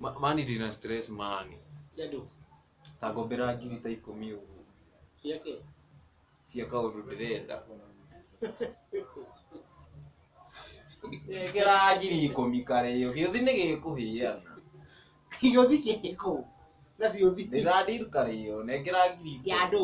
Ma- mani ndĩ na stress mani Yadu. ta ngombera ngiri ta ikũmi ũguo Yake. cia kaũndũ ndĩrenda ngera ngiri ikũmi karĩo gĩũthi nĩ gĩkũhĩana Yothi kiko. Nasi yothi. ndĩrandir karĩo nengera ngiri ikũmi. Yadu.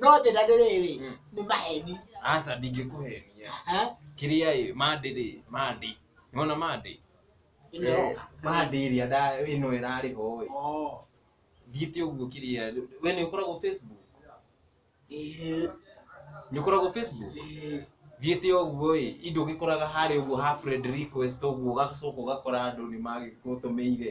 no njĩra nĩ rĩrĩ Mm. nĩ maheni aca ndingĩkũhenia Eh, kĩrĩa ĩ mandĩ rĩ mandĩ nĩwona mandĩ ĩno ĩroka. mandĩ ĩrĩa nda- ĩno ĩrarĩho ĩ Oh, thiĩte ũguo kĩrĩa we nĩ ũkoragwo facebook eh, nĩ ũkoragwo facebook eh, thiĩte ũguo ĩ indo ũgĩkoraga harĩa ũguo ha friend request ũguo ũgacoka ũgakora andũ nĩ magĩgũtũmĩire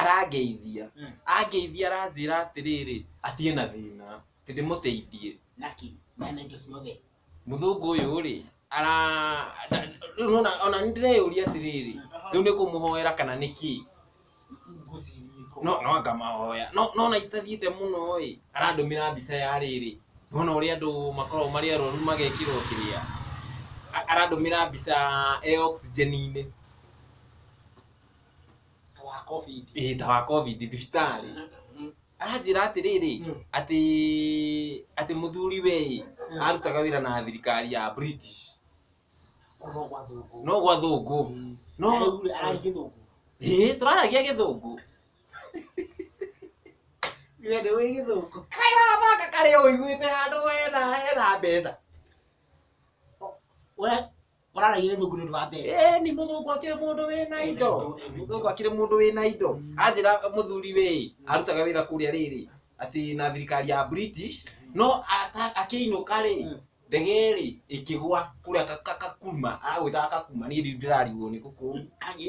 arangeithia, Mm. angeithia aranjĩra atĩrĩrĩ, atĩ ena thĩna, atĩ ndĩmũteithie. Lucky, man and just love it. Mũthũngũ ũyũ rĩ, ara nda- rĩu nĩwona ona nĩ ndĩreyũria atĩrĩrĩ, rĩu nĩ kũmũhoera kana nĩ kĩĩ? No no anga mahoya. No no na itathiĩte mũno ĩ, arandũmĩra mbica ya rĩrĩ. Nĩwona ũrĩa andũ makoragwo marĩ arwaru magekĩrwo kĩrĩa. A- Arandũmĩra mbica e oxygen-inĩ. ta wa covid ĩĩ ta wa covid thibitarĩ Mm. anjĩra atĩrĩrĩ Mm. atĩ atĩ mũthuri we ĩ Mm. arutaga wĩra na thirikari ya british kuno kwa thungu no gwa thũngũ no no ari githungu ĩĩ tũraragia gĩthũngũ wende wi githungu kayabaka karĩa ũiguĩte handũ hena hena mbeca Ura- ũraragia gĩthũngũ nĩ ũndũ wa mbeca ĩĩ ni mũthũngũ akĩrĩ mũndũ wĩna indo mũthũngũ akĩrĩ mũndũ wĩna indo anjĩra mũthuri wĩ arutaga wĩra kũrĩa rĩrĩ atĩ na thirikari ya british no ata- akĩinũka rĩ ndege rĩ ĩkĩgwa kũrĩa Ka- Ka- kakuma aragwĩtaga kakuma niĩ ndiũ ndĩrarigwo nĩ gũkũ agĩ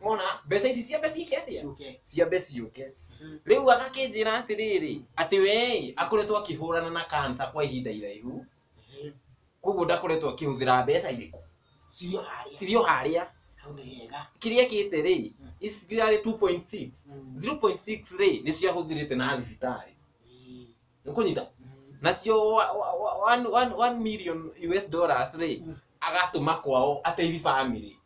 mona mbeca ici ciambe ciĩke atĩa Ciũke. ciambe ciũke Mhm. rĩu agakĩnjĩra atĩrĩrĩ atĩ wee akoretwo akĩhũrana na kansa kwa ihinda iraihu Ehe. koguo ndakoretwo akĩhũthĩra mbeca irĩkũ Cirĩ o harĩa. cirĩ o harĩa Hau nĩ hega. kĩrĩa kĩte rĩ ici cirarĩ 2.6 Mm. 0.6 rĩ nĩ ciahũthĩrĩte na thibitarĩ Ii. nĩ kũnyita Mm. nacio wa- wa- wa- one- one- one million US dollars rĩ Mm. agatũma kwao ateithie family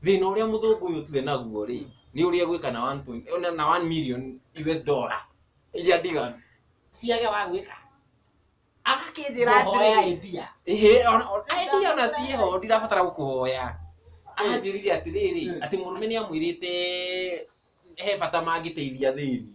thina uria muthungu uyu tuwe naguo ri ni uria gwika na 1 point ona na 1 million US dollar iria ndiganu ciage wa gwika agakinjira Hoya atiri idea. ihe ona idea ona ciho ndirabatara gukuhoya anjirire atiriri Mm. ati murume ni amwirite he bata mangiteithia thini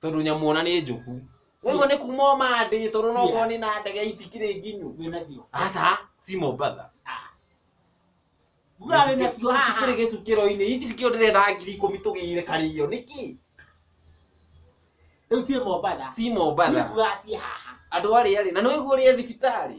tondũ nyamũ ona nĩ njũku ũguo nĩ kuma o mandĩĩ tondũ no ũkorwo nĩ na ndege itikĩrĩ nginyu wĩ nacio aca ci mombatha uga wĩ nacio haha itikĩrĩ gĩcukĩro-inĩ ici cikĩo ndĩrenda ngiri ikũmi tũgĩire karĩo nĩkĩ rĩu ciĩ mombatha ci niĩ mombatha nguaga ciĩ haha andũ arĩa rĩ na nĩ waigua ũrĩa e thibitarĩ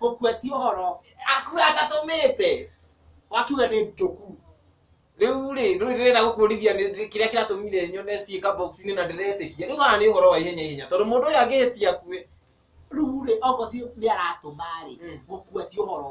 gũkua ti ũhoro akua atatũmĩte wakiuga nĩ njũku rĩu rĩ rĩu ndĩrenda gũkũrithia nĩ- nĩ- kĩrĩa kĩratũmire nyone ciĩka box-inĩ na ndĩretĩkia rĩu haha nĩ ũhoro wa ihenya ihenya tondũ mũndũ ũyũ angĩhĩtia akue rĩu rĩ okorwo ci nĩ aratũma rĩ Mm. gũkua ti ũhoro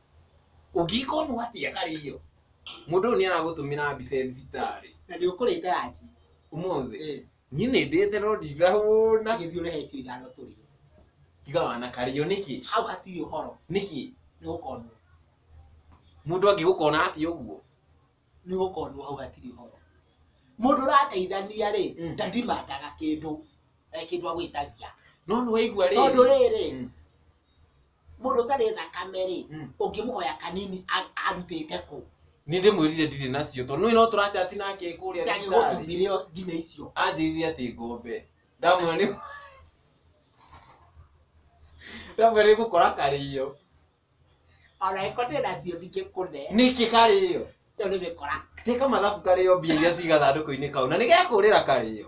ũngĩkonwo atĩa karĩ iyo mũndũ ũyũ nĩ aragũtũmĩra mbica e thibitarĩ na nĩ ũkũrĩte ranji ũmũthĩ Eh, niĩ nĩ ndĩte no ndirahũna agĩthiĩ ũrehe icio ithano tũrĩe tiga wana karĩo nĩkĩ hau hatirĩ ũhoro nĩkĩ nĩ gũkonwo mũndũ angĩgũkona atĩa ũguo nĩ gũkonwo hau hatirĩ ũhoro mũndũ ũrateithania rĩ Mm. ndadimandaga kĩndũ eh, kĩndũ agwĩtagia no nĩ waigua rĩrĩ tondũ rĩrĩ Mm. mũndũ ũtarĩ thakame rĩ Mm. ũngĩmũhoya kanini a- arutĩte kũ nĩ ndĩmwĩrire ndirĩ nacio tondũ nĩ no tũrachati nake kũrĩa tarĩ thibitarĩ. gũtumire nginya icio anjĩrire atĩ ngombe ndamwĩra nĩ ndamwĩra nĩ gũkora karĩo ona ĩko ndĩ nacio ndingĩkũne nĩkĩ karĩo ĩyo nĩ mĩkora teka mathabu karĩo mbia iria ciga thandũkũ-inĩ kau na nĩ gekũrĩra karĩo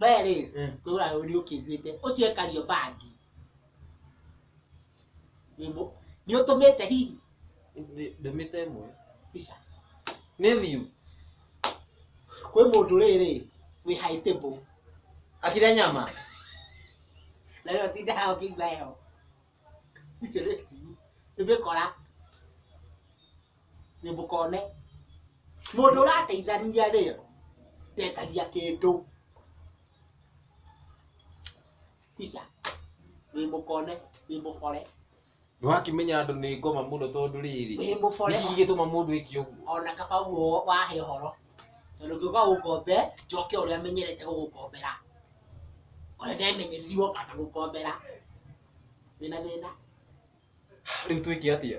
we rĩ Eh. kwĩra ũrĩ ũkĩnjĩte ũcio ekario bangi Wĩmũ- nĩ ũtũmĩte hihi Ndĩ- ndũmĩte ĩmwe bica nĩ thiu kwĩ mũndũ rĩrĩ wĩ haitĩbũ akira nyama nayo tinda hao kĩigua heho icio nĩ tiu nĩmĩkora nĩ mũkone mũndũ ũrateithania rĩ ndetagia kĩndũ Tisha, wĩ mũkone wĩ mũkore nĩwakĩmenya andũ nĩ ngoma mũno tondũ rĩrĩ wĩ mũkore nĩkĩ gĩgĩtũma mũndũ eke ũguo ona kaba guo wahe ũhoro tondũ ngĩũka gũkombe njoke ũrĩa menyerete gũgũkombera ũrĩa ndemenyereri woka ngagũkombera wĩna thĩna rĩu twĩke atĩa